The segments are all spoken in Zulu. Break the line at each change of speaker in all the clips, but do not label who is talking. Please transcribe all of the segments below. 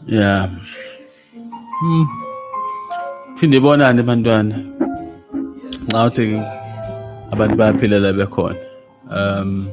Yeah. Hmm. Phinde bonane bantwana. Ngawuthi abantu bayaphila la bekhona. Um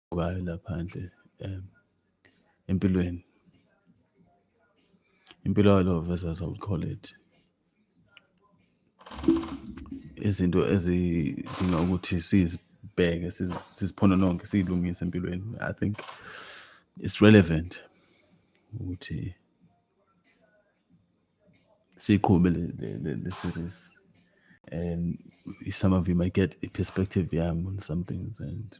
ngayo laphandle um empilweni impilo yalo versus I would call it izinto ezidinga ukuthi sizibheke siziphonononke siyilungise empilweni i think it's relevant ukuthi siyiqhube le series and some of you might get a perspective yami on some things and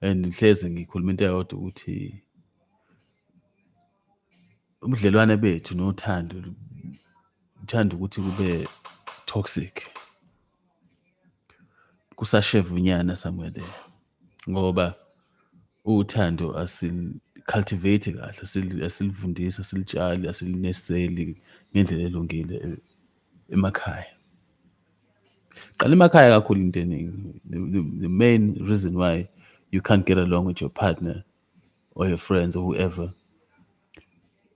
and ngihlezi ngikhuluma into eyodwa ukuthi ubudlelwane bethu nothando uthanda ukuthi kube toxic kusashevunyana somewhere there ngoba uthando asil-cultivate kahle asilivundisi asilitshali asilineseli ngendlela elungile eh, emakhaya Qala emakhaya kakhulu into eningi. The main reason why you can't get along with your partner or your friends or whoever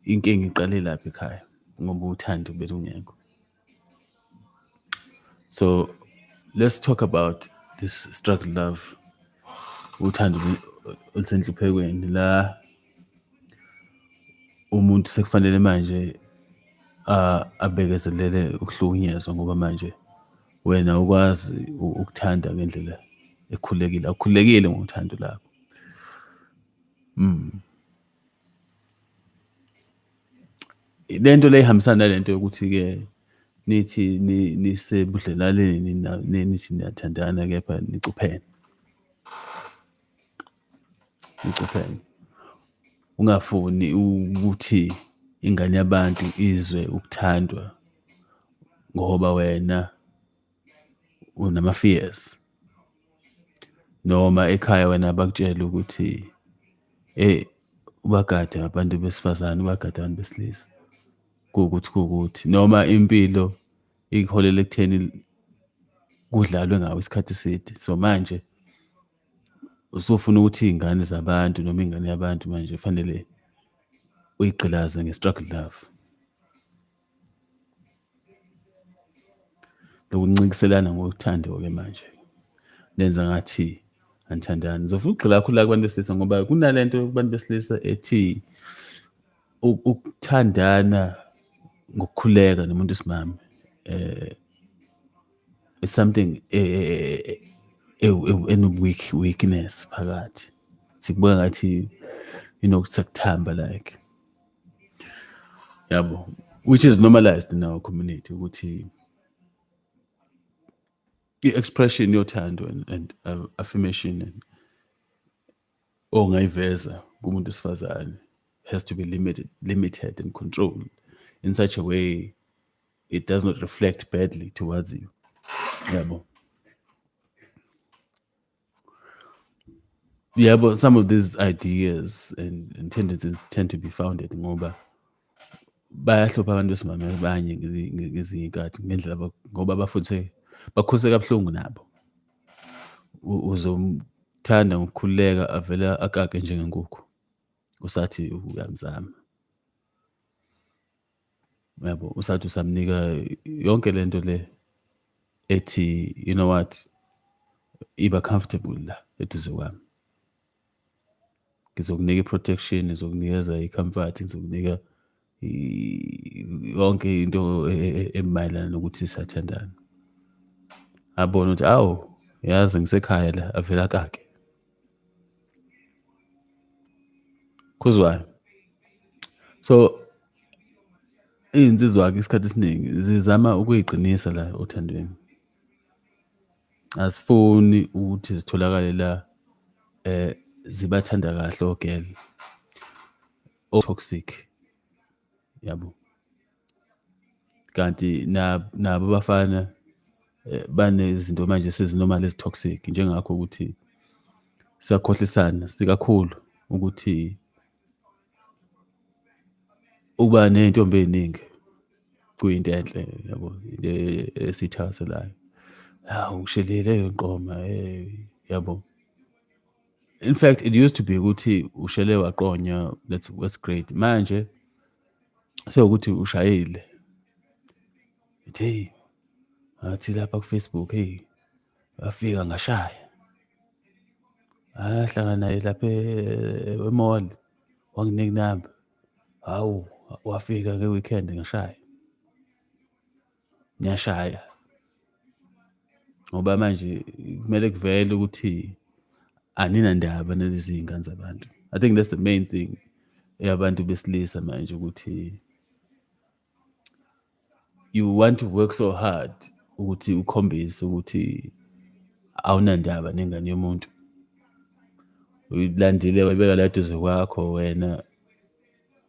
inkinga iqale lapha ekhaya ngoba uthando belungekho so let's talk about this struggle love uthando olusenhluphekweni la umuntu sekufanele manje abekezelele ukuhlukunyezwa ngoba manje wena ukwazi ukuthanda ngendlela ekhulekile awukhulekile ngothando lakho mm lento le ihambisana nalento yokuthi ke nithi nisebudlelaleni nithi niyathandana kepha nicuphene ucupheke ungafuni ukuthi ingane yabantu izwe ukuthandwa ngoba wena unama-fears noma ekhaya wena bakutshele ukuthi eyi ubagade abantu besifazane ubagade abantu besilisa kuwukuthi kuwukuthi noma impilo ikuholela ekutheni kudlalwe ngawo isikhathi eside so manje usufuna ukuthi iy'ngane zabantu noma ingane yabantu manje kufanele uyigqilaze nge-struggle love. Lokuncintiselana ngothando-ke manje lenza ngathi anithandani. Ngizofuna ukugxila kakhulu la kubantu besilisa ngoba kunale nto kubantu besilisa ethi ukuthandana ngokukhuleka nomuntu wesimame. Eh, it's something eh, eh, eh, enoweak weakness phakathi sikubuka ngathi you know sekuthamba like yabo which is normalized in our community ukuthi i-expression yothando and, and uh, affirmation and ongayiveza kumuntu wesifazane has to be limited limited and controlled in such a way it does not reflect badly towards you yabo yeah but some of these ideas and, and tendencies tend to be founded ngoba bayahlupha abantu besimame abanye ngezinye iy'nkathi ngendlela ngoba bafuthe bakhuse kabuhlungu nabo uzomthanda ngokukhululeka avele akake njengenkukhu usathi uyamzama yabo usathi usamnika yonke le nto le ethi you know what iba comfortable la eduze kwami ngizokunika i-protection ngizokunikeza i-comfort ngizokunika yonke into e, e, e, emayelana nokuthi sathandana abone ukuthi awu yazi ngisekhaya la avela kake khuzwayo so izinsizwa-ke isikhathi esiningi zizama ukuyiqinisa la othandweni asifuni ukuthi zitholakale la eh zibathanda kahle ogel o toxic yabo kanti nabo abafana eh, banezinto manje esezinormal ezi-toxic njengakho ukuthi siyakhohlisana sikakhulu ukuthi ukuba ney'ntombi ey'ningi kuyinto enhle yabo into e-, esiyithakaselayo hawu ngishelile leyo nqoma yabo In fact, it used to be ukuthi ushele waqonywa that's that's great. Manje sewukuthi ushayile. Ithi hey ngathi lapha ku Facebook hey wafika ngashaya. Ahlangana naye lapha e-mall wanginika inamba. Hawu wafika nge-weekend ngashaya. ngiyashaya ngoba manje kumele kuvele ukuthi aninandaba nalezi ngane zabantu i think that's the main thing eyabantu besilisa manje ukuthi you want to work so hard ukuthi ukhombise ukuthi awunandaba nengane yomuntu uyilandile wayibeka la duze kwakho wena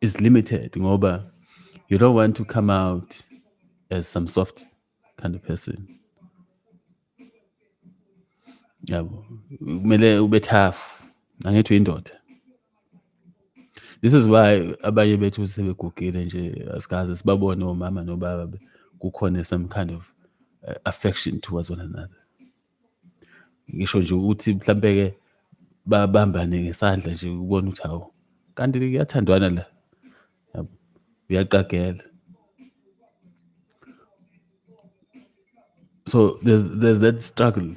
is limited ngoba you don't want to come out as some soft kind of person yabo kumele ube tough angithi uyindoda this is why abanye bethu sebegugile nje asikaze sibabone omama nobaba kukhona some kind of uh, affection towards one another ngisho nje ukuthi mhlampe ke babambane ngesandla nje ukubona ukuthi hawu kanti kuyathandwana la uyaqagela so there's, there's that struggle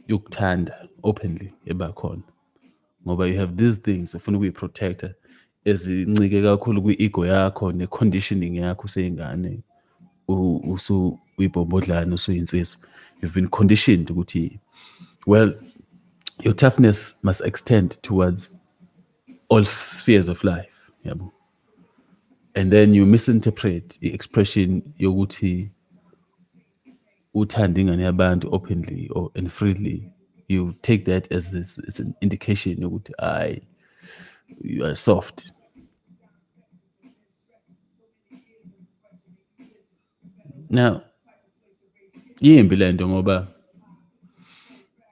yokuthanda openly ebakhona ngoba you have these things ufuna ukuyi-protecta ezincike kakhulu kwi-ego yakho ne-conditioning yakho useyingane usuyibhombodlana usuyinsizwa you've been conditioned ukuthi well your toughness must extend towards all spheres of life yabo and then you misinterpret i-expression yokuthi uthanda ingane yabantu openly or and freely you take that as, as, as an indication yokuthi hayi you are soft now yimbi le nto ngoba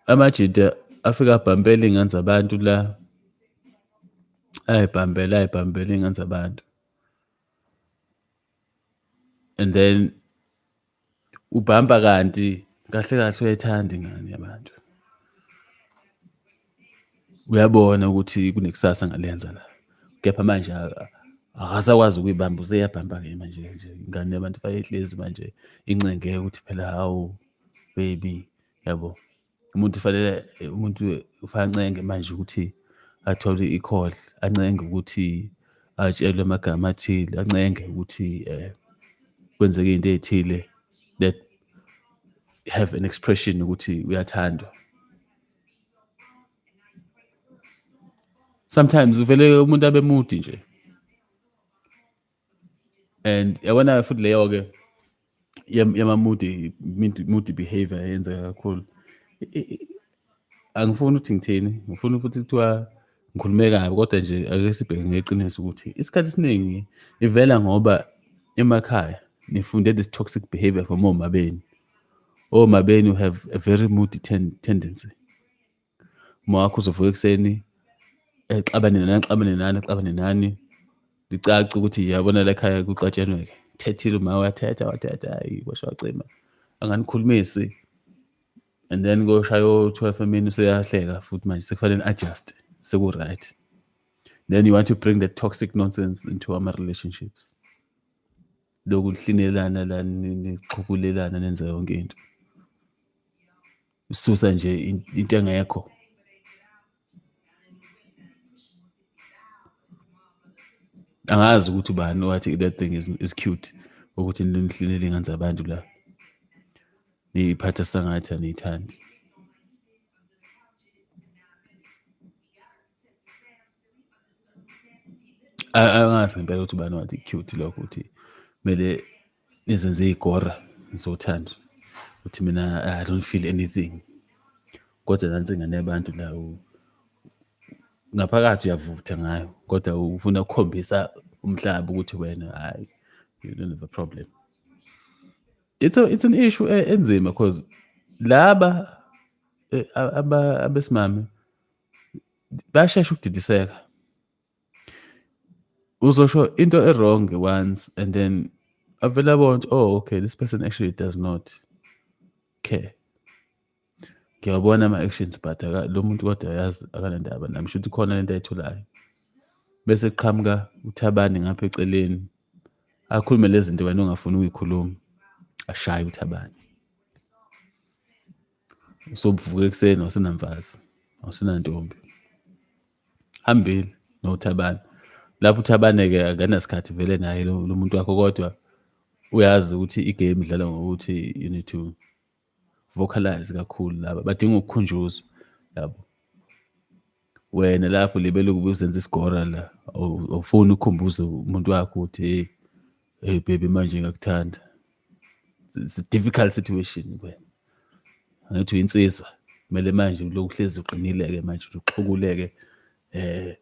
amajita afika abhampela iy'ngane zabantu la ayibhambela ayibhambela iy'ngane zabantu and then ubhamba kanti kahle kahle uyayithanda ingane yabantu uyabona ukuthi kunekusasa ngalenza la kepha manje akasakwazi ukuyibamba useyabhamba-ke manje nje ingane yabantu bayehlezi manje incengeke ukuthi phela hawu baby yabo umuntu fanele umuntu ufanele ancenge manje ukuthi athole i-call ancenge ukuthi atshelwe amagama athile ancenge ukuthi um kwenzeke into ey'thile that have an expression ukuthi uyathandwa sometimes uvele umuntu abe mudi nje and yabona futhi leyo ke yama moody moody behavior yenzeka kakhulu angifuni ukuthi ngithini ngifuna futhi kuthiwa ngikhulume kabi kodwa nje ake sibheke ngeqiniso ukuthi isikhathi esiningi ivela ngoba emakhaya nifunde this toxic behavior from omabeni omabeni have a very moody ten tendency uma wakho uzovuka ekuseni exabane nani axabane nani axabane nani licaca ukuthi yabona la ekhaya kuxatshenweke thethile uma wathetha wathetha hayi kwasho wacima anganikhulumisi and then koshaya o-twelve emini useyahleka futhi manje sekufanele adjust seku-right then you want to bring the toxic nonsense into our relationships lokuhlinelana la nixhukulelana nenza yonke into Susa nje into engekho. Angazi ukuthi ubani wathi that thing is, is cute ukuthi nihlelele ingane zabantu la. Niyiphatha sangathi aniyithandi. Angazi ngempela ukuthi ubani wathi cute lokho ukuthi kumele nizenze igora ngizothanda uthi mina i don't feel anything kodwa nansi ingane yabantu la ngaphakathi uyavutha ngayo kodwa ufuna ukukhombisa umhlaba ukuthi wena hayi you don't have a problem it's a, it's an issue eh, enzima because laba eh, abesimame bashesha ukudidiseka uzosho into e-wrong once and then avele abona ukuthi oh okay this person actually does not care ngiyawabona ama-actions but lo muntu kodwa yazi akanandaba nami shuthi khona lento ayitholayo bese kuqhamuka uthabane ngapha eceleni akhulume lezi zinto wena ongafuni ukuyikhuluma ashaye uthabane sobuvuka ekuseni wasenamfazi wasenantombi hambile nothabani lapho uthabane-ke akanasikhathi vele naye lo muntu wakho kodwa uyazi ukuthi igame idlala ngokuthi you need to vocalize kakhulu laba badinga ukukhunjuzwa yabo wena lapho libele ukube uzenza isigora la awufuni ukukhumbuza umuntu wakho ukuthi hey Hey baby manje ngiyakuthanda. It's a difficult situation wena. Angithi uyinsizwa. Kumele manje uloku hlezi uqinile ke manje uxhukuleke eh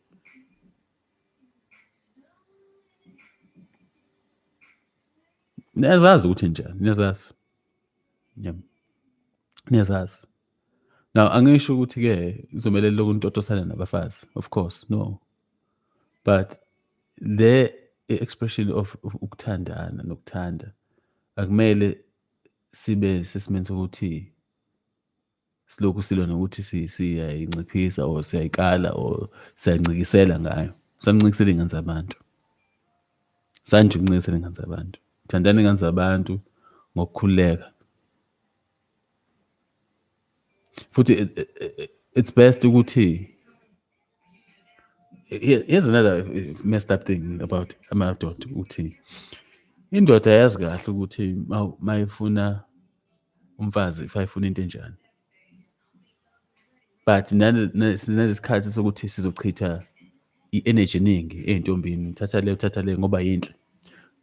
Niyazazi ukuthi njani, niyazazi. Yebo. Niyazazi. Now angisho ukuthi-ke kuzomele lokhu nitotosana nabafazi, of course, no. but le expression of of ukuthandana nokuthanda akumele sibe sesimeni sokuthi silokhu silwa nokuthi si- siyayinciphisa or siyayikala or siyancikisela ngayo sancikisela iy'ngane zabantu sanje ukuncikisela iy'ngane zabantu thandani iy'ngane zabantu ngokukhululeka futhi it- it- it- it's best ukuthi here's another eh, messed up thing about amadoda ukuthi indoda yazi kahle ukuthi mayifuna umfazi if ayifuna into enjani but sinesikhathi sokuthi sizochitha i-energy eningi ey'ntombini thatha le uthatha le ngoba yinhle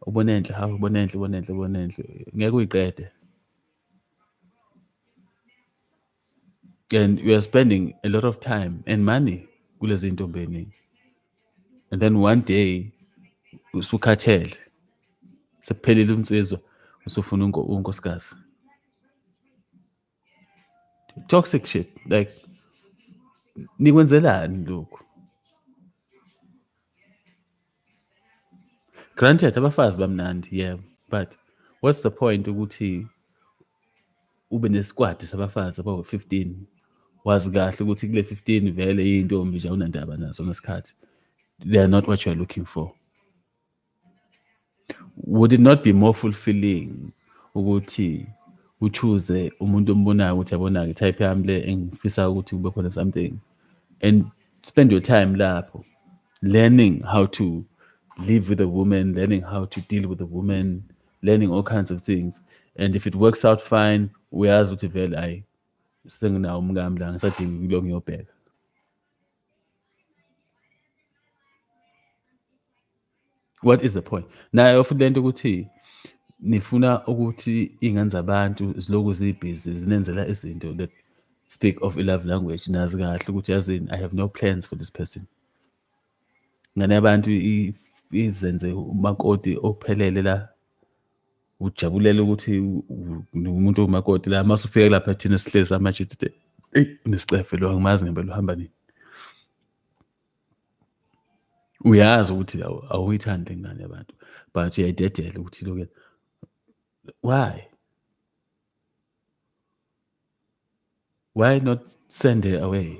ubona enhle hawu ubona enhle ubona enhle ubona enhle ngeke uyiqede and we are spending a lot of time and money kulezi ntombi eningi and then one day usukhathele sekuphelile umnsizwa usufuna unkosikazi toxic shit like nikwenzelani lokhu granted abafazi bamnandi yebo but what's the point ukuthi ube nesikwadi sabafazi abawu-15 wazi kahle ukuthi kule 15 vele iyintombi nje awunandaba nazo ngesikhathi they are not what you are looking for would it not be more fulfilling ukuthi uchoose umuntu ombonayo ukuthi yabona-ke type yami le engifisa ukuthi kube khona something and spend your time lapho learning how to live with a woman learning how to deal with a woman learning all kinds of things and if it works out fine uyazi ukuthi vele ayi senginawo umkami la ngisadinga kulo ngiyobheka what is the point nayo futhi lento ukuthi nifuna ukuthi iy'ngane zabantu ziloku zibhizi zinenzela izinto that speak of i-love language nazi kahle ukuthi yazini i have no plans for this person ngane yabantu izenze umakoti ophelele la ujabulela ukuthi umuntu owumakoti la mase ufike lapha thina sihlezi amajidide eyi unesicefe lo angimazi ngempela uhamba nini uyazi ukuthi awuyithandi le ngane yabantu but uyayidedela ukuthi loke why why not send her away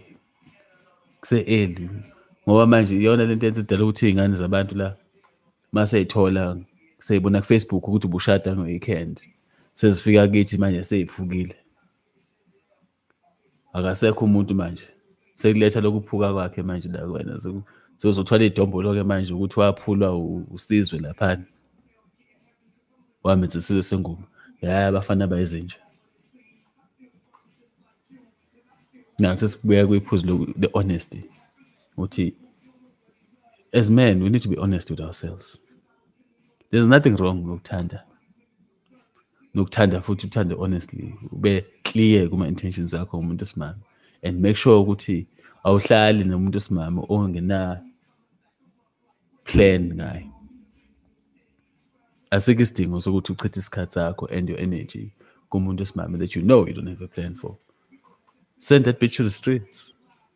kuse-eli ngoba manje iyona le nto yenza idala ukuthi iy'ngane zabantu la uma seyithola seyibona kufacebook ukuthi ubushada no-weekend sezifika kithi manje seyiphukile akasekho umuntu manje sekuletha lokuphuka kwakhe manje la kwena sekuzothwala idombolo-ke manje ukuthi waphulwa usizwe laphana wamenza isizwe sengubo ya abafana bayizinja now sesibuya kwiphuzu the honesty ukuthi as men we need to be honest with ourselves there's nothing wrong lokuthanda nokuthanda futhi uthande honestly ube clear kuma intentions akho umuntu osimame and make sure ukuthi awuhlali nomuntu osimame ongena plan ngaye asikho isidingo sokuthi uchithe isikhathi sakho and your energy kumuntu osimame that you know you don't have a plan for send that bitch to the streets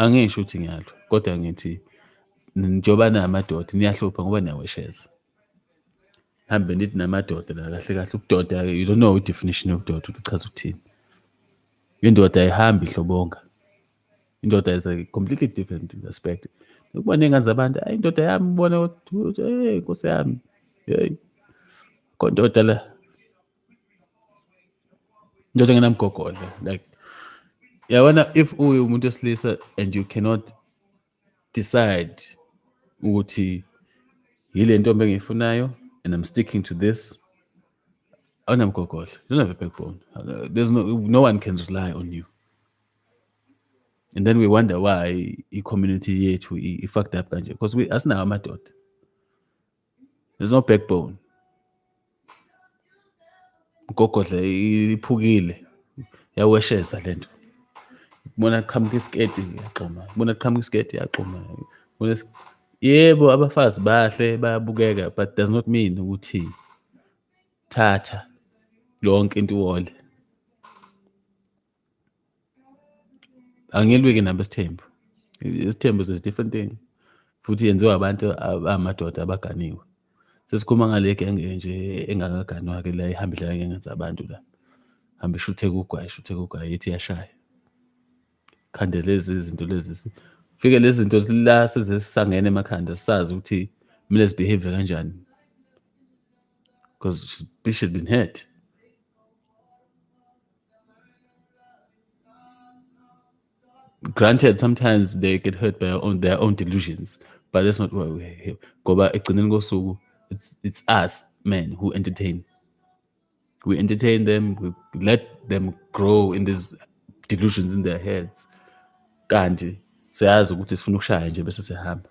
Angisho ukuthi ngiyalwa kodwa ngithi njengoba namadoda niyahlupha ngoba niyawesheza. Hambe nithi namadoda la kahle kahle ubudoda you don't know i-definition yobudoda ukuthi ichaza ukuthini. Indoda ayihambi ihlobonga. indoda is a completely different aspect ukuba ney'ngane zabantu ayi indoda yami ubona ukuthi hey nkosi yami hey kondoda la indoda engenamgogodla like yabona if uwumuntu wesilisa and you cannot decide ukuthi yile ntombi engiyifunayo and I'm sticking to this awunamgogodla you don't have a backbone there's no, no one can rely on you and then we wonder why i-community yethu i-fucked up kanje because asinawo amadoda there's no backbone mgogodle iphukile yaweshesa lento bona qhamuka isiketi yaxhuma bona qhamuka isiketi yaxhuma bona yebo abafazi bahle bayabukeka but does not mean ukuthi thatha yonke into iwole angilwiki nabo isithembu isithembu is a different thing futhi yenziwa abantu abamadoda abaganiwe sesikhuluma ngale genge enje engakaganwa-ke la ihamba idlala ngengane zabantu la hambe ishuthe kugwayi ishuthe kugwayi ithi yashaya khande lezi izinto lezi fike lezi zinto la sezisangene emakhanda sisazi ukuthi kumele zibehave kanjani because she should been hurt granted sometimes they get hurt by own, their own delusions but that's not why we're here ngoba ekugcineni kosuku it's, it's us men who entertain we entertain them we let them grow in these delusions in their heads kanti siyazi ukuthi sifuna ukushaya nje bese sihamba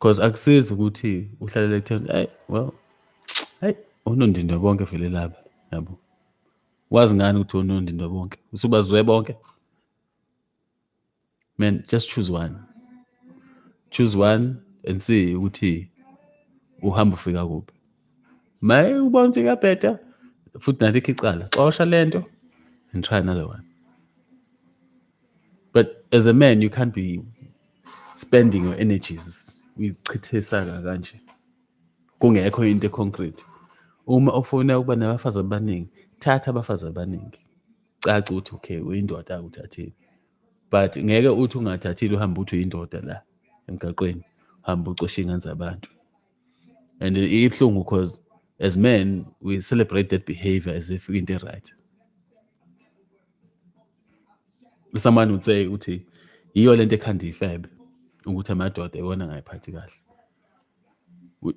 Cause akusizi ukuthi uhlalele ekutheni ayi well ayi unondindwa bonke vele laba yabo. Wazi ngani ukuthi unondindwa bonke? Usubazwe bonke? Man, just choose one. Choose one and see ukuthi uhamba ufika kuphi. Maye ubona ukuthi kuyabheda futhi nalikho icala. Xosha lento and try another one. But as a man you can't be spending your energies uyichithisa kanje kungekho into econcrete uma ufuna ukuba nabafazi abaningi thatha abafazi abaningi caca ukuthi okay uyindoda akuthathile but ngeke uthi ungathathile uhambe uthi uyindoda la emgaqweni hamba ucosha ingane zabantu and ibuhlungu because as men we celebrate that behavior as if into right samane uthe uthi yiyo lento ekhanda ifebe ukuthi amadoda iwona angayiphathi kahle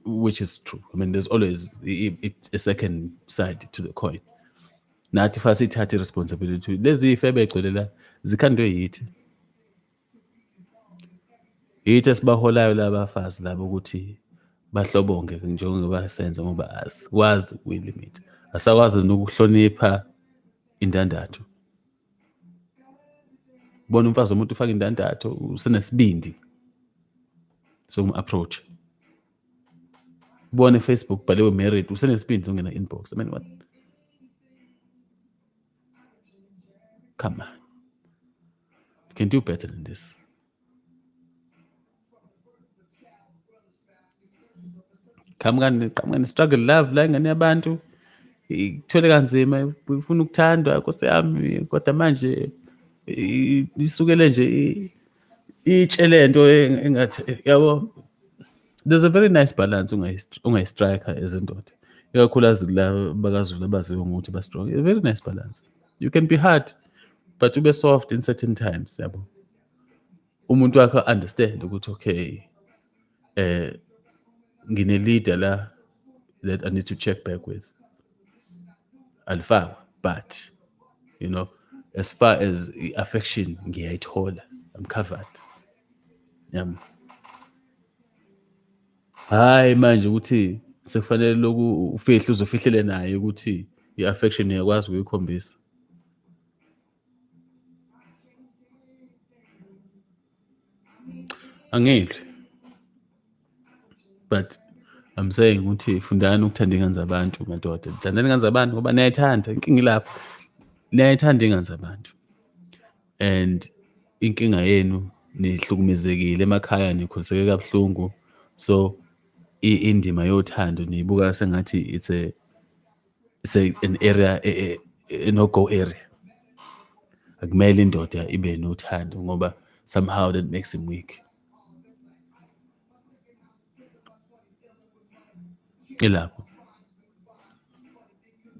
which is true i mean there's always it's a second side to the coin nathi fa sithathe responsibility lezi ifebe egcwele la zikhandwe yithi Yithi esibaholayo labafazi labo ukuthi bahlobonge njengoba senze ngoba asikwazi ukuyilimita. Asakwazi nokuhlonipha indandatho. Bona umfazi womuntu ufaka indandatho usenesibindi somu-approach. Ubone Facebook bhaliwe married usenesibindi sokungena inbox. I mean what? Come on. You can do better than this. qhamukani qhamukani struggle love la ingane yabantu ithwele kanzima ifuna ukuthandwa nkosi yami kodwa manje isukele nje itshe lento engathi yabo there's a very nice balance ungayistriker ezindoda ikakhulukazi kula bakazulu abaziwe ngokuthi ba-strong a very nice balance you can be hard but ube soft in certain times yabo umuntu wakho understand ukuthi okay eh ngine-leader la that i need to check back with alifakwa but you know as far as i-affection ngiyayithola i'm covered yabo yeah. Hhayi manje ukuthi sekufanele lokhu ufihle uze ufihlele naye ukuthi i-affection uyakwazi ukuyikhombisa. Angidli. But I'm saying ukuthi fundani ukuthanda ingane zabantu madoda. Thandani ingane zabantu ngoba niyayithanda. Inkinga ilapho. Niyayithanda ingane zabantu. and inkinga yenu nihlukumezekile emakhaya nikhoseke kabuhlungu so indima yothando niyibuka sengathi it's a it's a, an area e, e, e, no go area akumele indoda ibe nothando ngoba somehow that makes him weak ilapho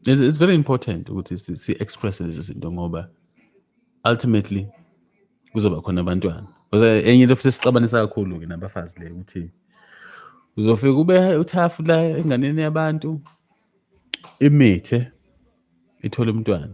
it's very important ukuthi si-expresse lezi zinto ngoba ultimately kuzoba khona abantwana because enye into futhi esixabanisa kakhulu-ke nabafazi le ukuthi uzofika ube uthafu la enganeni yabantu imithe ithole umntwana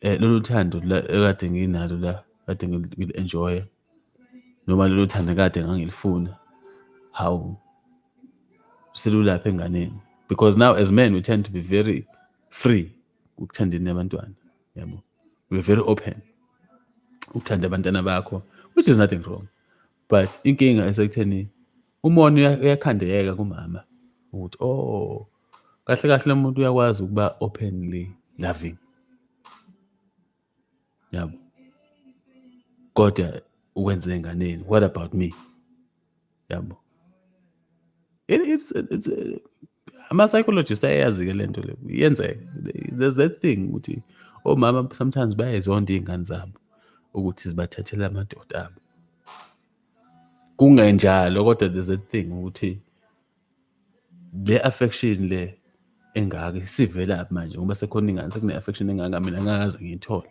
eh, lolu thando ekade nginalo la kade ngili-enjoya noma lolu thando kade ngangilifuna hawu selulapha enganeni because now as men we tend to be very free ukuthandeni nabantwana yabo we're very open ukuthanda abantwana bakho which is nothing wrong but inkinga esekutheni umona uyakhandeka kumama ukuthi oh kahle kahle umuntu uyakwazi ukuba openly loving yabo kodwa ukwenze enganeni what about me yabo ama-psychologist ayayazi-ke le nto le yenzeka there's that thing ukuthi omama sometimes bayayizonda iy'ngane zabo ukuthi zibathathele amadoda abo kungenjalo kodwa there's a thing ukuthi le affection le engaka isivela manje ngoba sekhona ingane sekune affection engaka mina ngakaze ngiyithole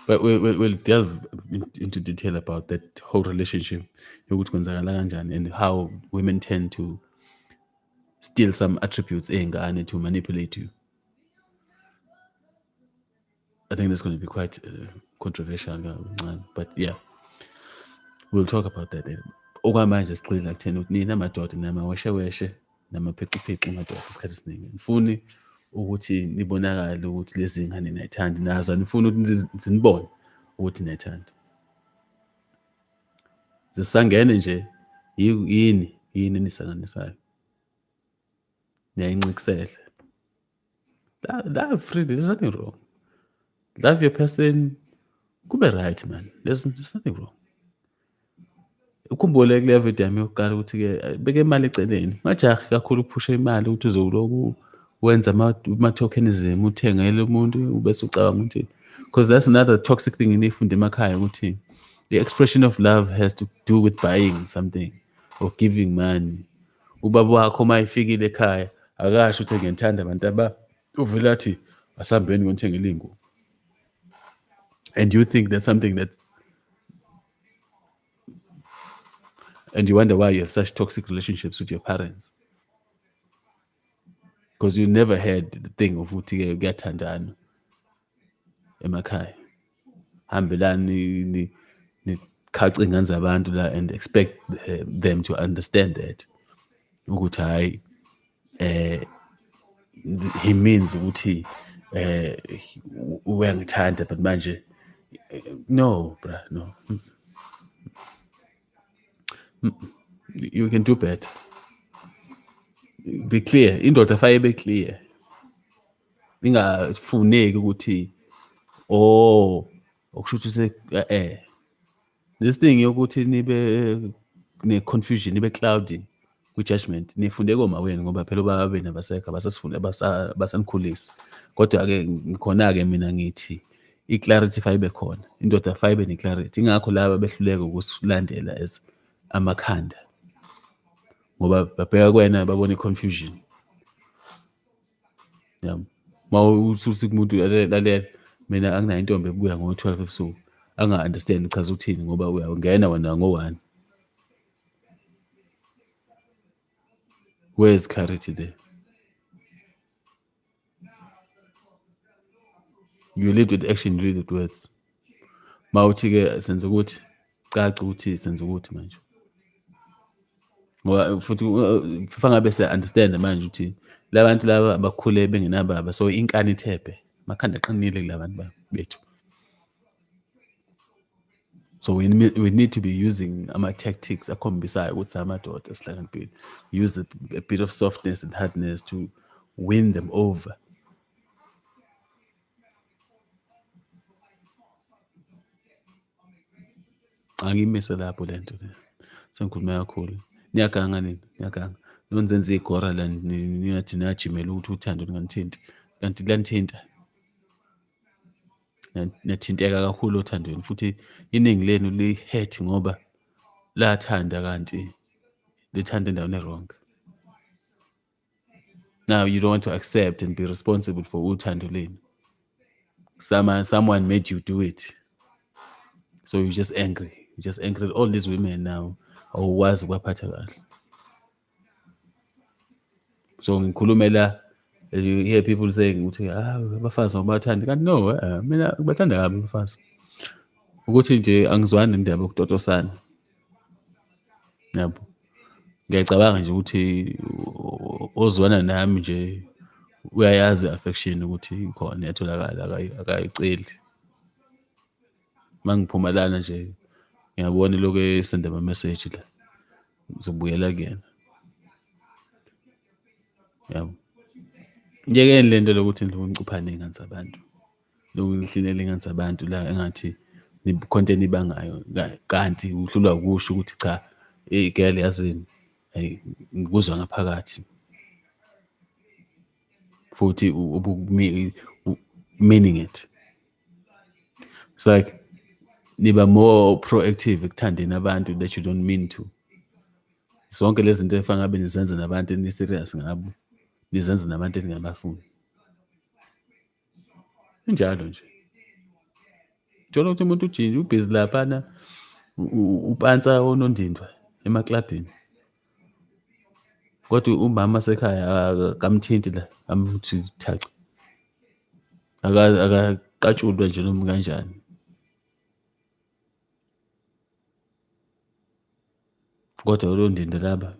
But we'll, we'll, we'll delve into detail about that whole relationship yokuthi kwenzakala kanjani and how women tend to steal some attributes ey'ngane to manipulate you I think that's going to be quite uh, controversial kancane but yeah we'll talk about that later. okwamanje sigxila kutheni ukuthi nina madoda namawesheweshe namaphixiphixa madoda isikhathi esiningi ngifuni ukuthi nibonakale ukuthi lezi ngane nayithandi nazo anifuni ukuthi zinibone ukuthi nayithandi zisangene nje yini yini enisanganisayo niyayincikisela That, that free, there's nothing wrong. Love your person, kube right man. There's, there's nothing wrong. Ukhumbule kule video yami yokuqala ukuthi-ke eh, beke imali eceleni. Ungajahi kakhulu ukuphusha imali ukuthi uze uloku wenza ama-tokenism, uthengele umuntu ubese ucabanga ukuthi because that's another toxic thing eniyifunde emakhaya ukuthi the expression of love has to do with buying something or giving money. ubaba wakho uma efikile ekhaya akasho ukuthi ngiyanithanda abantu aba uvele athi asambeni ngonithengela iy'ngubo and you think that's something that and you wonder why you have such toxic relationships with your parents because you never heard the thing of ukuthi-ke kuyathandana emakhaya hambelani nikhace ingane zabantu la and expect eh, them to understand that ukuthi hhayi eh he means ukuthi eh uyangithanda but manje eh, no bra no you can do better be clear indoda faye be clear ingafuneki ukuthi oh okusho ukuthi se eh, eh this thing yokuthi nibe ne confusion nibe cloudy kwi judgment nifunde koma wenu ngoba phela ubaba benu abasekho abasasifunde abasanikhulisa kodwa ke ngikhona ke mina ngithi i clarity fayibe khona indoda fayibe ne clarity ingakho laba behluleka ukusilandela as amakhanda ngoba babheka kwena babone confusion yabo uma usuthi kumuntu lalela mina anginayo intombi ebuya ngo-twelve ebusuku anga-understand uchaza ukuthini ngoba uyangena wena ngo-one where is clarity there you lead with action you lead with words mawuthi ke senza ukuthi caca ukuthi senza ukuthi manje ngoba futhi kufanele ngabe se understand manje ukuthi labantu laba abakhule bengenababa so inkani ithephe makhanda qinile kulabantu bethu so we, we need to be using ama tactics akhombisayo ukuthi amadoda sihlakaniphile use a, a bit of softness and hardness to win them over angimise lapho le nto le sengikhuluma kakhulu niyaganga nini niyaganga nonzenza igora la niyathi niyajimela ukuthi uthando lunganithinti kanti lanithinta nathinteka kakhulu othandweni futhi iningi lenu li-hurt ngoba lathanda kanti lithanda endaweni e-wrong now you don't want to accept and be responsible for uthando lenu someone, someone made you do it so you're just angry you're just angry at all these women now awukwazi ukwaphatha kahle so ngikhulumela you hear people saying ukuthi ah abafazi abathandi kanti no eh, mina kubathanda kabi abafazi ukuthi nje angizwani nendaba yokutotosana yabo ngiyacabanga nje ukuthi ozwana nami nje uyayazi affection ukuthi ikhona iyatholakala akayiceli uma ngiphuma lana nje ngiyabona lokhu esende ama-message la ngizobuyela kuyena yabo yekeni le nto lokuthi ngicupha ney'ngane zabantu Lokhu ngihlilela engathi abantu la engathi content ibangayo kanti uhlulwa ukusho ukuthi cha hey girl yazini hey ngikuzwa ngaphakathi futhi meaning it it's like niba more proactive ekuthandeni abantu that you don't mean to zonke lezi zinto efana ngabe nizenza nabantu ni-serious ngabo nizenza nabantu eningabafuni Kunjalo nje. Thola ukuthi umuntu ujinja ubhizi laphana upansa onondindwa emaklabhini. Kodwa umama sekhaya akamthinti la amuthi thaca. Akaqatshulwe nje noma kanjani. Kodwa uLondindwa laba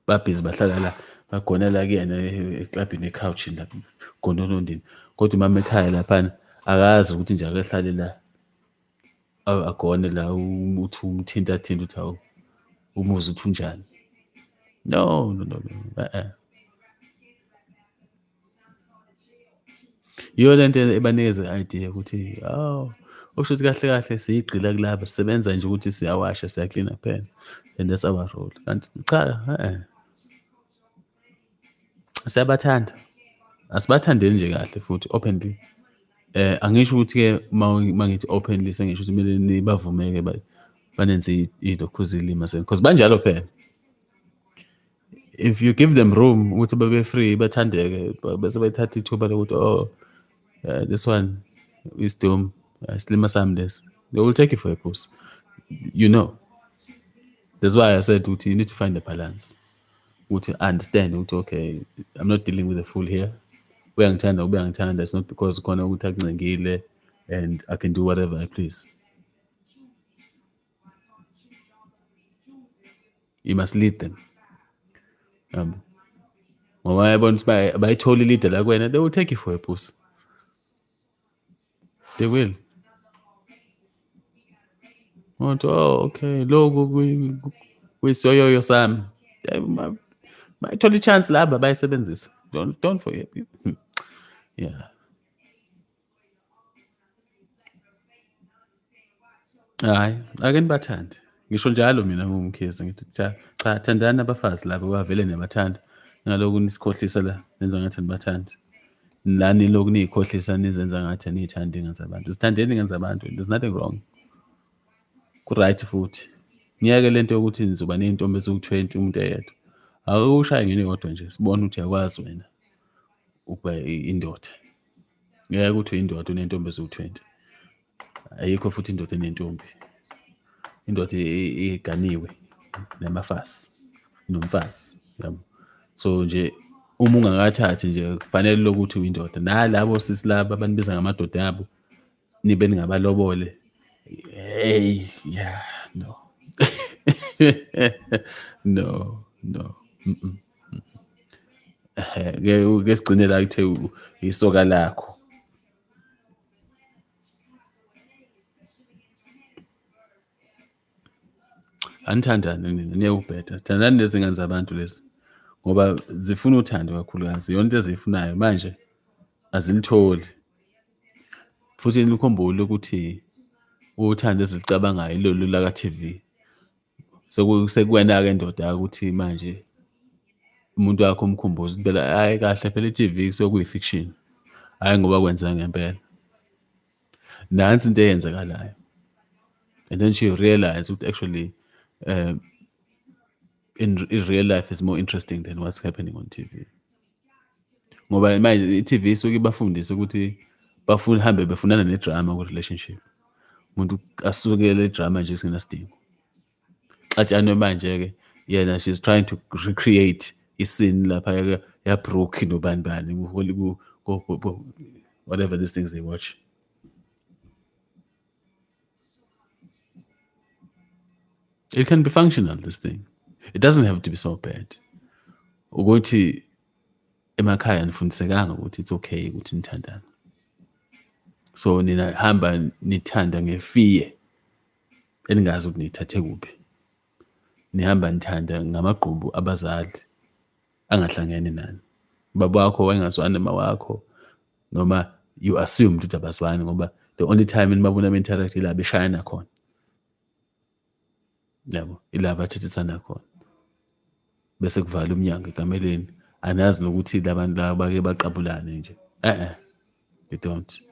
babhizi bahlala la bagonela kuyena eklabhini ekhawushi la gona uLondindwa. Kodwa umama ekhaya laphana akazi ukuthi nje akehlale la agone la uthi umthinta thinta ukuthi hawu umuzi uthi unjani. No no no no. Uh-uh. Yiyo le nto ebanikeza i-idea ukuthi hawu okusho ukuthi kahle kahle siyigqila kulaba sisebenza nje ukuthi siyawasha siyaklina kuphela and that's our role kanti cha eh siyabathanda asibathandeni nje kahle futhi openly eh angisho ukuthi ke mangithi openly sengisho ukuthi kumele nibavumeke banenze idokhuzi ilima senu because banjalo phela if you give them room ukuthi babe free bathandeke bese bethatha ithuba lokuthi oh uh, this one is doom uh, silima sami this they will take you for a course you know that's why i said ukuthi you need to find a balance ukuthi understand ukuthi okay i'm not dealing with a fool here uyangithanda ube angithanda it's not because khona ukuthi akuncengile and i can do whatever i please You must lead them. Um, ngoba yabona ukuthi bayithola ilida la kuwena they will take you for a pussy they will ngothi oh okay loku kuyisoyoyo sami bayithola i-chance laba bayisebenzisa don't, don't forget yeah Hhayi, ake nibathande. Ngisho njalo mina ngingumKhezi ngithi cha cha thandani abafazi laba bavele niyabathanda. Ningaloku nisikhohlisa la nenza ngathi anibathandi. La nilokhu niy'khohlisa nizenza ngathi aniy'thandi iy'ngane zabantu. Zithandeni iy'ngane zabantu, there's nothing wrong. Ku-right futhi. Ngiyeke le nto yokuthi nizoba ney'ntombi eziwu-twenty umuntu eyedwa. Awushaye ngeyodwa nje sibone ukuthi uyakwazi wena ukuba indoda. ngeke ukuthi uyindoda unentombi eziwu-20 ayikho futhi indoda enentombi indoda iganiwe namafazi nomfazi yabo so nje uma ungakathathi nje kufanele lokuthi uyindoda nalabo sisi laba abanibiza ngamadoda abo nibe ningabalobole hey yeah no no no mm -mm. ke sigcine la kuthe isoka lakho anithandane nina niye ubheda thandani nezingane zabantu lezi ngoba zifuna uthando kakhulukazi yonke into eziyifunayo manje azilitholi futhi nikhumbule ukuthi uthando ezilicabangayo ilolu laka-tv sekuwena-ke ndoda ukuthi manje umuntu wakho umkhumbuza ukuthi phela hhayi kahle phela i-tv kusuke kuyi-fiction hhayi ngoba kwenzeka ngempela nansi into eyenzekalayo and then she realized ukuthi actually um, in, in real life is more interesting than what's happening on TV ngoba manje i-TV isuke ibafundise ukuthi bafuna hambe befunana nedrama ku-relationship umuntu asukele idrama nje singenasidingo xatshanwe manje-ke yena she's trying to recreate isini lapha yabrook nobani bani whatever these things they watch It can be functional, this thing. It doesn't have to be so bad. Ukuthi emakhaya nifundisekanga ukuthi it's okay ukuthi nithandane. So nina hamba nithanda ngefear eningazi ukuthi nithathe kuphi. Nihamba nithanda ngamagqubu abazali. angahlangene nani baba wakho wayengazwani noma wakho noma you assume ukuthi abazwani ngoba the only time enibabona be-interact ila beshayana khona yabo ila bathethisana khona bese kuvala umnyango ekameleni anazi nokuthi labantu laba bake baqabulane nje eh you don't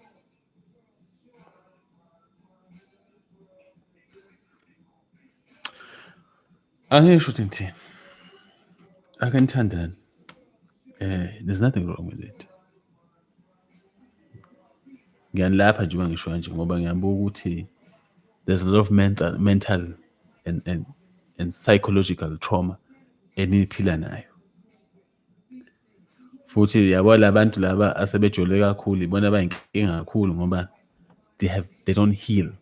Angeke sho ukuthi ngithini. Ake nithandane. Eh, there's nothing wrong with it. Ngiyanilapha nje uma ngisho kanje ngoba ngiyabuka ukuthi there's a lot of mental mental and and and psychological trauma eniphila nayo. futhi yabo labantu laba asebejole kakhulu ibona abayinkinga kakhulu ngoba they have they don't heal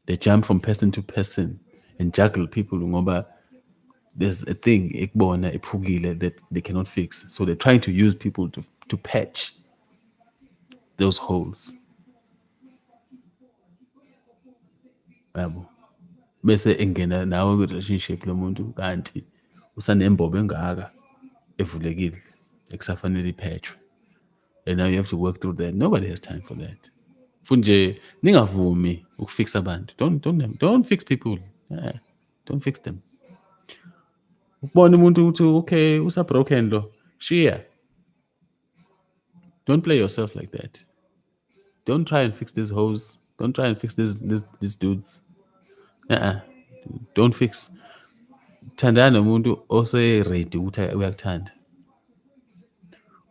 they jump from person to person and juggle people ngoba there's a thing ekubona ephukile that they cannot fix so they're trying to use people to, to patch those holes yabo bese engena nawe kwi-relationship lomuntu kanti usanembobo engaka evulekile ekusafanele iphethwe and now you have to work through that nobody has time for that futhi nje ningavumi ukufixa abantu don't, don't, don't fix people yeah, don't fix them ukubona umuntu ukuthi okay usabroken lo shiya don't play yourself like that Don't try and fix these hoes. Don't try and fix these these, these dudes. Uh-uh. Don't fix. Thandana nomuntu ose ready ukuthi uyakuthanda.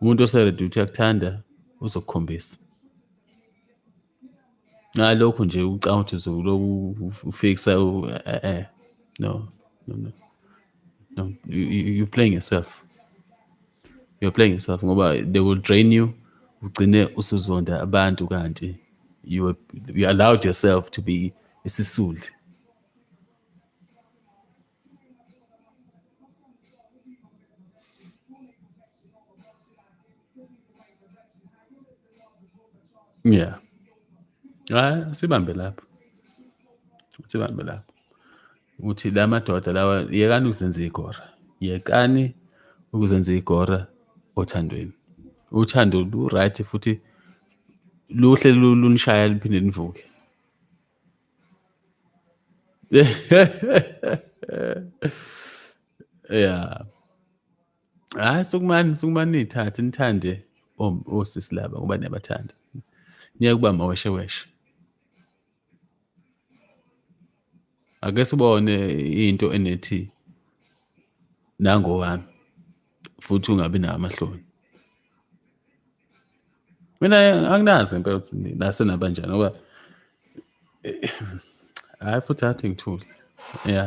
Umuntu ose ready ukuthi uyakuthanda uzokukhombisa. Ngalokho nje ucanga ukuthi uzokuloku ufixa eh eh no no no. No, you, you, you're playing yourself. you're playing yourself ngoba they will drain you ugcine usuzonda abantu kanti you, were, you allowed yourself to be isisulu yeah hayi sibambe lapho sibambe lapho ukuthi la madoda lawa yekani ukuzenza igora yekani ukuzenza igora othandweni uthando lu-right futhi luhle lunishaya liphinde nivuke ya hayi sukumani sukumani niyithathe nithande osisi laba ngoba niyabathanda niyakubamba weshe weshe ake sibone into enethi nangowami futhi ungabi nawo amahloni mina anginazi impela ukuthi nase nabanjani ngoba eh, hayi futhi athi ngithule ya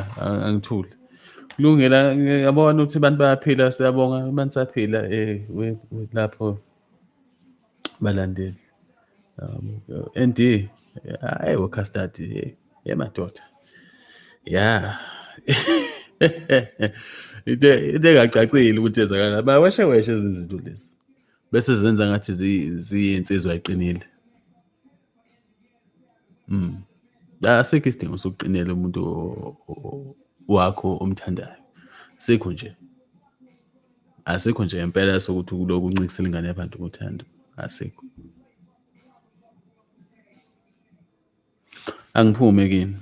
angithule kulungela yabona ukuthi abantu bayaphila siyabonga abantu saphila um eh, lapho balandeli um, and hayi wokastadi hey ye madoda ya into engacacile ukuthi ezakala baweshe weshe ezi zinto lezi bese zenza ngathi ziyinsizwa eqinile mm asikho isidingo sokuqinela umuntu wakho omthandayo sikho nje Asikho nje impela sokuthi kulokhu uncikisela ingane yabantu ngothando. Asikho. Angiphume kini.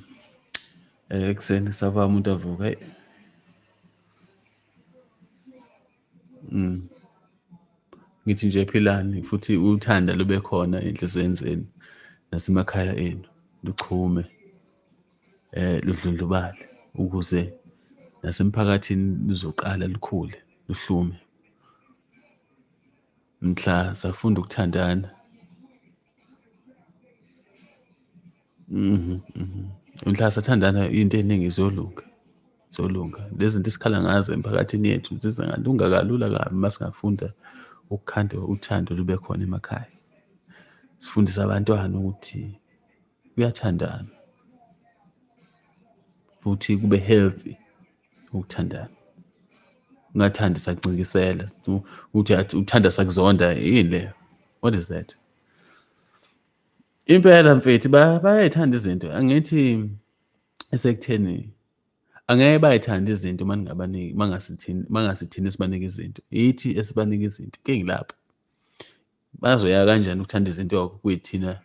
Eh ekuseni sava umuntu avuka. Hey. Mm. Ngithi nje philani futhi uthanda lube khona enhlizweni zenu nasemakhaya enu. Luchume. eh ludlondlobale ukuze nasemphakathini luzoqala lukhule luhlume mhla safunda ukuthandana mhm mhm mhla sathandana into eningi izolunga zolunga lezi zinto esikhala ngazo emphakathini yethu zizingalunga kalula kabi uma singafunda ukukhanda uthando lube khona emakhaya sifundise abantwana ukuthi kuyathandana futhi kube healthy ukuthandana ungathandi sakucingisela uthi uthanda sakuzonda yini leyo what is that impela mfethi bayayithanda izinto angithi esekutheni angeke bayithanda izinto uma ningabaniki uma ngasithini uma ngasithini esibanike izinto yithi esibanike izinto kengilapho Bazoya kanjani ukuthanda izinto kuyithina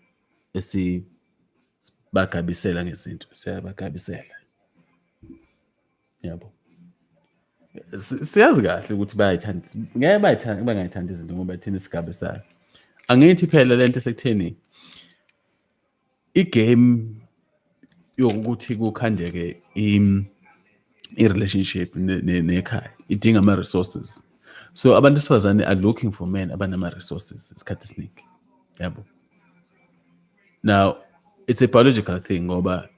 esibagabisela ngezinto, siyabagabisela. Yabo. Siyazi kahle ukuthi bayayithanda, ngeke bayithanda bangayithandi izinto ngoba thina sigabisayo. Angithi phela lento esekutheni igame yokuthi kukhandeke im i-relationship nekhaya idinga ama-resources so abantu besifazane are looking for men abanama-resources isikhathi esiningi yabo now it's a biological thing ngoba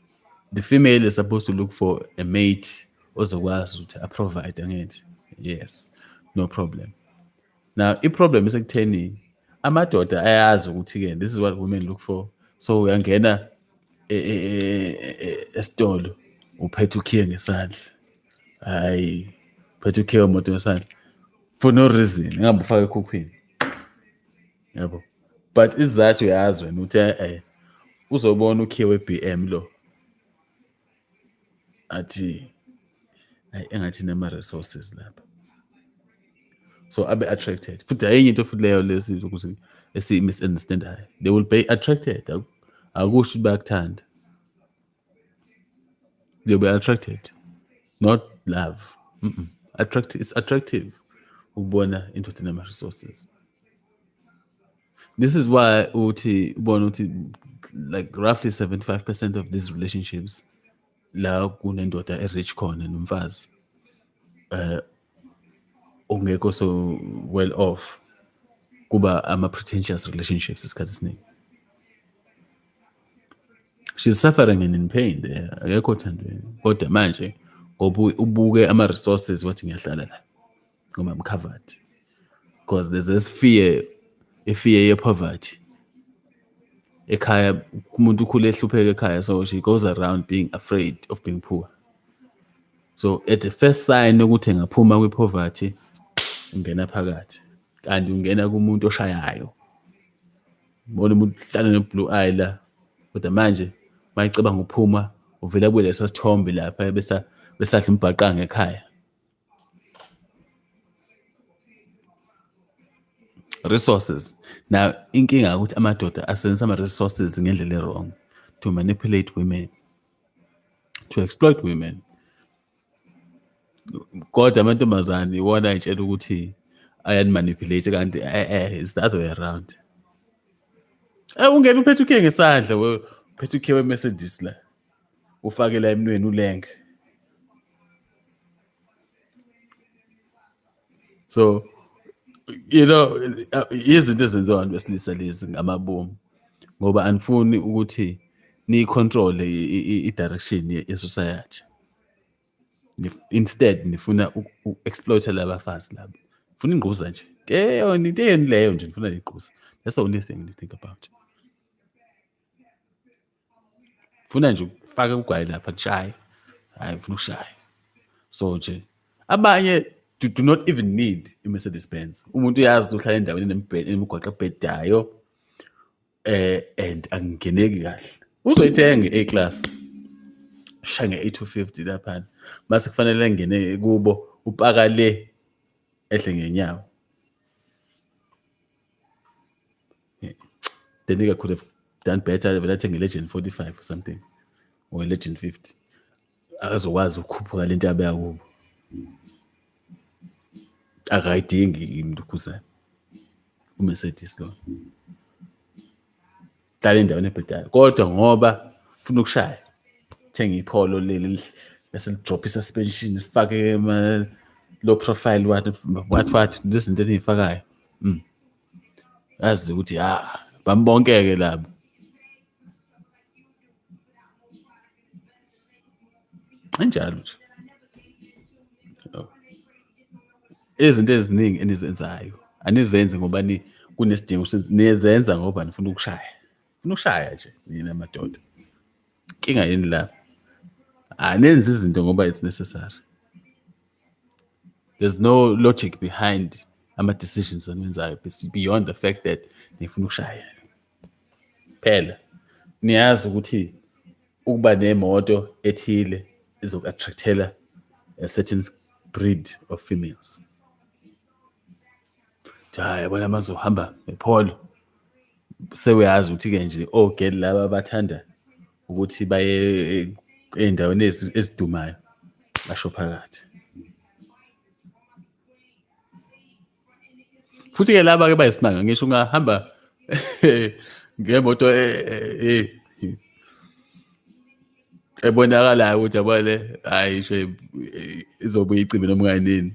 the female is supposed to look for a mate ozokwazi ukuthi aprovide angithi yes no problem now iproblem isekutheni amadoda ayazi ukuthi-ke this is what women look for so uyangena e, e, e, esitolo uphethe ukhiye ngesandla hayi uphethe ukhiye wemoto ngesandla for no reason ingabe ufake ekhukhwini yabo but isizathu uyazi wena ukuthi uzobona ukhiye we-b m lo athi ayi engathi nama resources lapha so abe attracted futhi ayinye into futhi leyo lesi ukuthi esi misunderstand hayi they will be attracted akusho bayakuthanda they will be attracted not love mm -mm. Attract, it's attractive ukubona indoda nama resources this is why uthi ubona uthi like roughly 75% of these relationships la kunendoda e-rich khona nomfazi uh ongekho so well off kuba ama-pretentious relationships isikhathi esiningi she's suffering and in pain there akekho othandweni kodwa manje ngoba ubuke ama-resources wathi ngiyahlala la ngoba I'm covered because there's this fear a fear of poverty ekhaya umuntu ukhule ehlupheka ekhaya so she goes around being afraid of being poor so at the first sign ukuthi ngaphuma kwi-poverty ungena phakathi kanti ungena kumuntu oshayayo bona umuntu hlala ne-blue eye la kodwa manje mayicabanga uphuma uvela kulesa sithombe lapha besa besadla umbhaqanga ekhaya resources now inkinga ukuthi amadoda asebenzisa ama-resources ngendlela e-wrong to manipulate women to exploit women kodwa amantombazane iwona ayitshela ukuthi ayanimanipulate kanti e-e it's the other way around um ungena uphethe ukhe ngesandla uphethe ukhe we-mercedes la ufakela emnweni ulenge so you know izinto ezenziwa abantu besilisa lezi ngamabomu ngoba anifuni ukuthi niyicontrol i-direction ye-society instead nifuna uku-exploita labafazi labo funa ingquza nje teyoni teyoni leyo nje nifuna nigquza that's the only thing you think about funa nje ukufake ugwayi lapha kushaye hayi funa ukushaye so nje abanye do, do not even need i-mercedes benz umuntu uyazi ukuthi uhlala endaweni enemigwaqo ebhedayo eh and angingeneki kahle uzoyithenga i-a-class sha nge-850 laphana mase kufanele engene kubo upaka le ehle ngenyawo Yeah. The nigga could have done better vele athenge legend 45 or something or legend 50 akazokwazi ukukhuphuka le nto abeya kubo akayidingi imntu ukhuzana umercedes lo hlala endaweni ebhedayo kodwa ngoba funa ukushaya thenga ipholo leli bese lidrop i-suspension lifake low profile what what what nezinto eniyifakayo mm. azi ukuthi ha ah, bambonkeke labo anjalo nje izinto eziningi enizenzayo anizenzi ngoba ni kunesidingo nizenza ngoba nifuna ukushaya funa ukushaya nje nina madoda inkinga yini la anenzi izinto ngoba it's necessary there's no logic behind ama-decisions aniwenzayo beyond the fact that nifuna ukushaya phela niyazi ukuthi ukuba nemoto ethile izoku-attractela a certain breed of females Cha yabona mazohamba epholo sewuyazi ukuthi-ke nje ogeli laba bathanda ukuthi baye ey'ndaweni ezidumayo basho phakathi futhi-ke laba-ke bayisimanga ngisho ungahamba ngemoto eh, eh, eh, ebonakalayo ukuthi yabo le hayi isho izobuya icimbe noma kayinini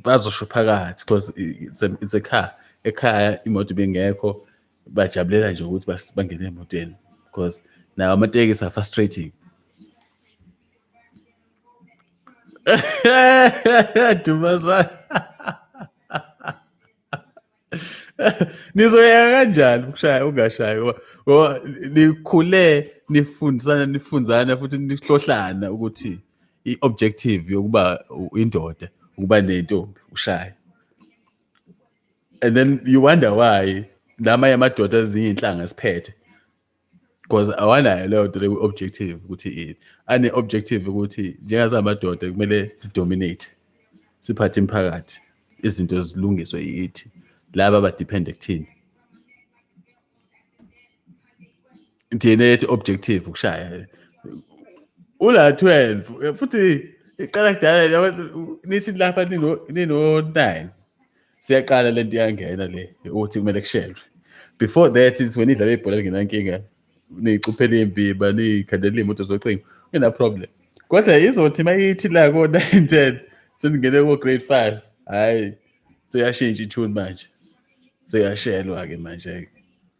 bazosho phakathi because it's a, it's a car ekhaya imoto bengekho bajabulela nje ukuthi bangene emotweni because nawo amatekisi are frustrating Dumazana nizoyeka kanjani ukushaya ungashayi ngoba nikhule nifundisana nifunzana futhi nihlohlana ukuthi i-objective yokuba indoda ukuba nentombi ushaye and then you wonder why lama yamadoda ezinye inhlanga siphethe because awanayo leyo nto leku-objective ukuthi ini ane-objective ukuthi njengazamadoda kumele sidominate siphathe imphakathi izinto zilungiswe yithi laba abadephende kuthini thina yethi objective ukushaya ula 12 futhi iqala kudala nithi lapha nino 9 siyaqala le nto iyangena le ukuthi kumele kushelwe before that is when idlala ibhola lingenankinga niyixuphela imbiba niyikhandela iy'moto zocingo ina problem kodwa izothi uma ithi la ko-nine ten sengingene ko-grade five hhayi seyashintsha ithuni manje seyashelwa-ke manje-ke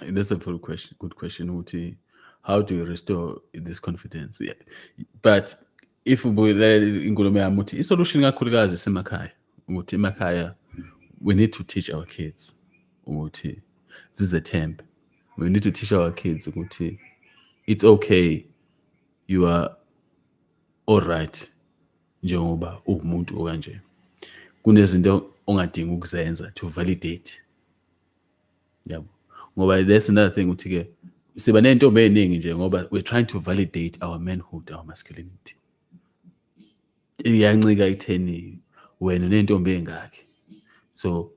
That's a good question. Good question. Uti, how do you restore this confidence? Yeah. But if ubuyela inkulumo yami uthi isolution kakhulukazi isemakhaya ukuthi emakhaya we need to teach our kids ukuthi zizethembe we need to teach our kids ukuthi it's okay you are all right njengoba uwumuntu okanje kunezinto ongadingi ukuzenza to validate yabo ngoba that's another thing ukuthi ke siba nentombi eziningi nje ngoba we're trying to validate our manhood our masculinity iyancika itheni wena nentombi engakhe so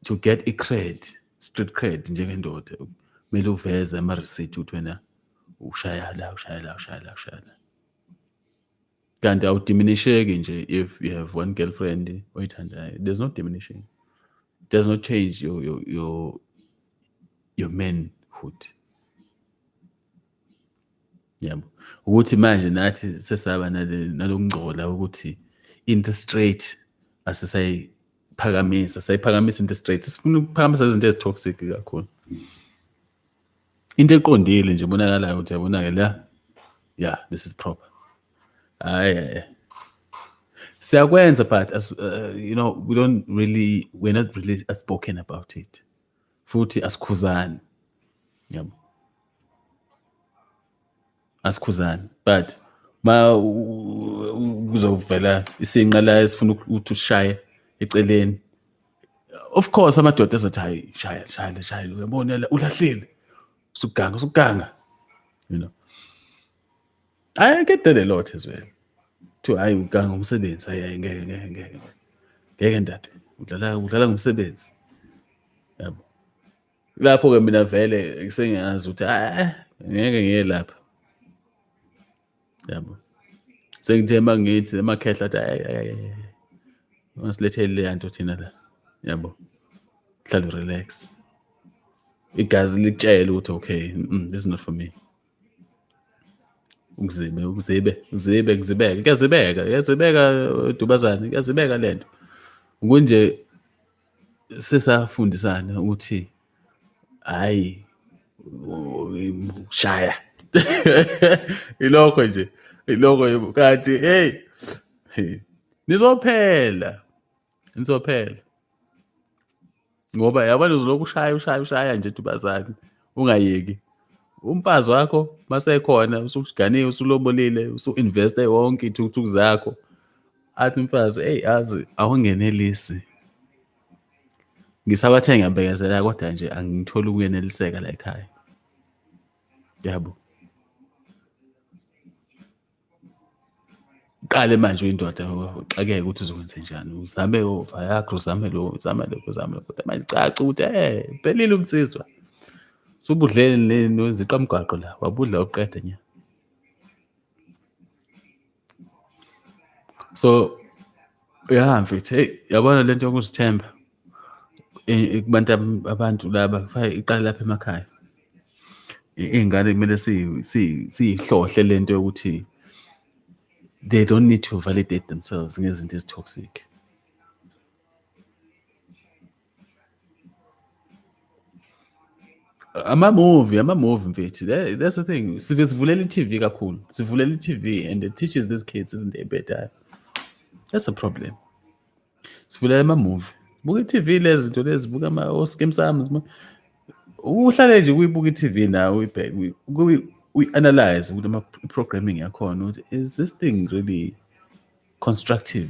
to get a cred street cred njengendoda kumele uveze ama receipt ukuthi wena ushaya la ushaya la ushaya la ushaya la kanti awudiminisheki nje if you have one girlfriend oyithandayo there's no diminishing does not change your your your, your manhood yabo ukuthi manje nathi sesaba nalokungcola ukuthi into straight asisayiphakamisa sayiphakamisa into straight sifuna ukuphakamisa izinto ezitoxic kakhulu into eqondile nje bonakalayo ukuthi yabonake la yeah this is proper hayi eh, eh. siyakwenza but as, uh, you know we don't really we're not really spoken about it futhi asikhuzani yabo asikhuzani but ma kuzovela isinqa la esifuna ukuthi ushaye eceleni of course amadoda ezothi hayi shaya shaya shaya uyabona ulahlile usuganga usuganga you know i get that a lot as well to hayi uganga umsebenzi hayi ngeke ngeke ngeke ngeke ndade udlala udlala ngomsebenzi yabo lapho ke mina vele sengiyazi ukuthi ah ngeke ngiye lapha yabo sengithe uma ngithi emakhehla athi ungasiletheli leya nto thina la yabo hlale relax igazi likutshele ukuthi okay mm, this is not for me ukuzibe ukuzibe uzibe kuzibeka kuyazibeka kuyazibeka dubazane kuyazibeka lento kunje sesafundisana ukuthi hayi shaya ilokho nje ilokho kanti hey nizophela nizophela ngoba yabona uzolokhu ushaya ushaya ushaya nje dubazane ungayeki umfazi wakho masekhona usukuganiwe usulobolile usu-investe wonke iy'thukuthuku zakho athi umfazi eyi azi awungenelisi ngisabathe ngiyabekezela kodwa nje angitholi ukuyeneliseka la ekhaya yabo qale manje uyindoda uxakeke ukuthi uzokwenze njani uzame ova yakho uzame lo uzame lokho uzame lokho kodwa manje caca ukuthi eh pelile umsizwa subudleni neziqamgwaqo la wabudla uqede nya so ya mfethu hey yabona lento yokuzithemba kubantu abantu laba kufanele iqale lapha emakhaya iy'ngane kumele siyihlohle le nto yokuthi they don't need to validate themselves ngezinto ezi-toxic amamuvi amamuvi mfethu that's the thing sive sivulela i-tv kakhulu sivulela i-tv and it teaches these kids izinto ey'bhedayo that's a problem sivulela amamuvi buka i-tv lezi zinto lezi buka ama-oskim sami uhlale nje kuyibuka i-tv nawe uyibheke uyi-analyze ukuthi ama-programming yakhona ukuthi is this thing really constructive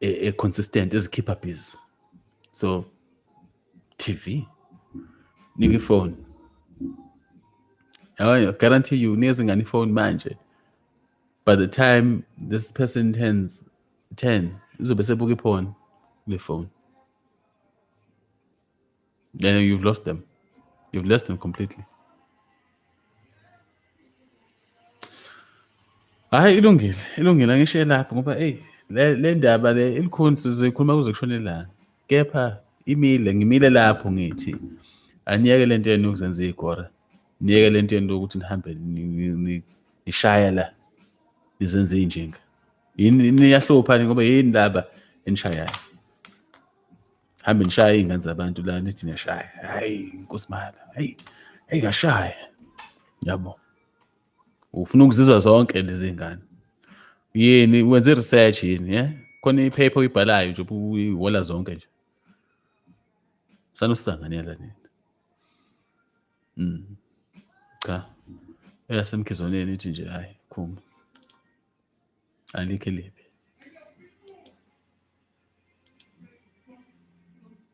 e, e consistent ezikhipha biz so TV nika ifone I guarantee you unikeza ingane ifone manje by the time this person turns 10 uzobe sebuka iphone le phone Then you've lost them. You've lost them completely. Hayi ilungile, ilungile angishiye lapho ngoba hey le le ndaba le ilikhuni sizoyikhuluma kuze kushone ilanga. Kepha imile ngimile lapho ngithi aniyeke le nto yenu yokuzenza igora. Niyeke le nto yenu yokuthi nihambe nishaya la nizenze injinga. Yini niyahlupha ngoba yini ndaba enishayayo. hambe nishaya iy'ngane zabantu la nithi niyashaya hhayi nkosi mala hhayi hhayi kashaya yabo ufuna ukuzizwa zonke lezi ngane yini wenze research yini ye khona iphepha oyibhalayo nje uyiwola zonke nje sanosanganyela nini mm cha eyasemkhizwaneni ithi nje hayi khumba Alikho elibi.